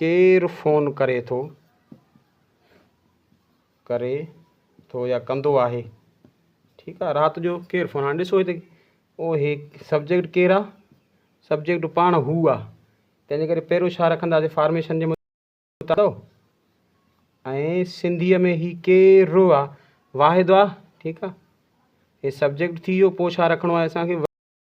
ڪير فون ڪري ٿو، ڪري ٿو يا ڪندو آهي. ٺيڪ آهي رات جو ڪير فون هاڻي ڏسو هتي او هي سبجيڪٽ ڪير آهي سبجيڪٽ پاڻ هو آهي تنهنجي ڪري پهريون ڇا رکنداسي فارميشن جي مطابق ۽ سنڌيء ۾ هي ڪير رو آهي واحد آهي ٺيڪ آهي هي سبجيڪٽ ٿي ويو پوء ڇا رکڻو آهي اسانکي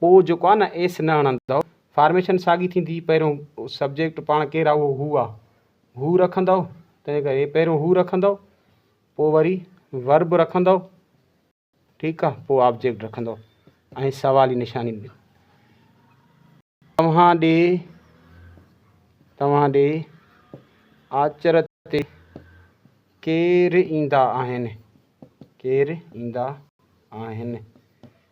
پوء جيڪو آ نه ايس نه هڻندؤ فارميشن ساڳي ٿيندي پهريون سبجيڪٽ پاڻ ڪير آ اهو هو آ هو رکندؤ تنهن ڪري پهريون هو رکندؤ پوء وري ورب رکندؤ ٺيڪ آ پوء آبجيڪٽ رکندؤ ۽ سوالي نشاني ڏيو توهان ڏي توهان ڏي آچر تي ڪير ايندا آهن ڪير ايندا آهن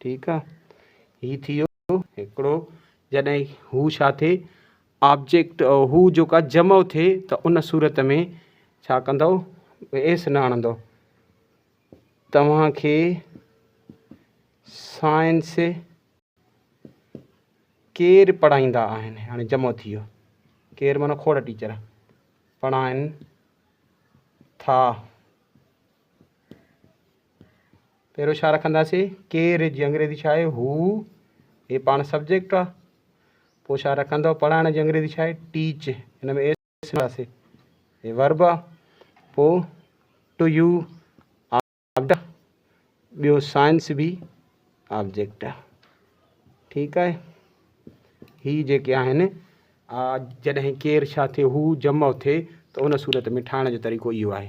ٺيڪ آ هي ٿيو هڪڙو جڏهن هو ڇا ٿئي آبجيڪٽ هو جيڪا جمع ٿئي ته ان صورت ۾ ڇا ڪندو ايس نه آڻندو توهان کي سائنس ڪير پڙهائيندا آهن هاڻي جمع ٿي ويو ڪير معنی کوڙ ٽيچر پڙهائن ٿا پهريون ڇا رکنداسين؟ ڪير جي انگريزي ڇا آهي؟ هو هي پاڻ سبجيڪٽ آهي. پوء ڇا رکندو؟ پڙهائڻ جي انگريزي ڇا آهي؟ ٽيچ هن ۾ ايس رکنداسين هي ورب آهي. پوء ٽو يو آبجيڪٽ ٻيو سائنس به آبجيڪٽ ٺيڪ آهي. هي جيڪي آهن آ جڏهن ڪير شا ٿئي هو جمع ٿئي ته ان صورت ۾ ٺاهڻ جو طريقو اهو آهي.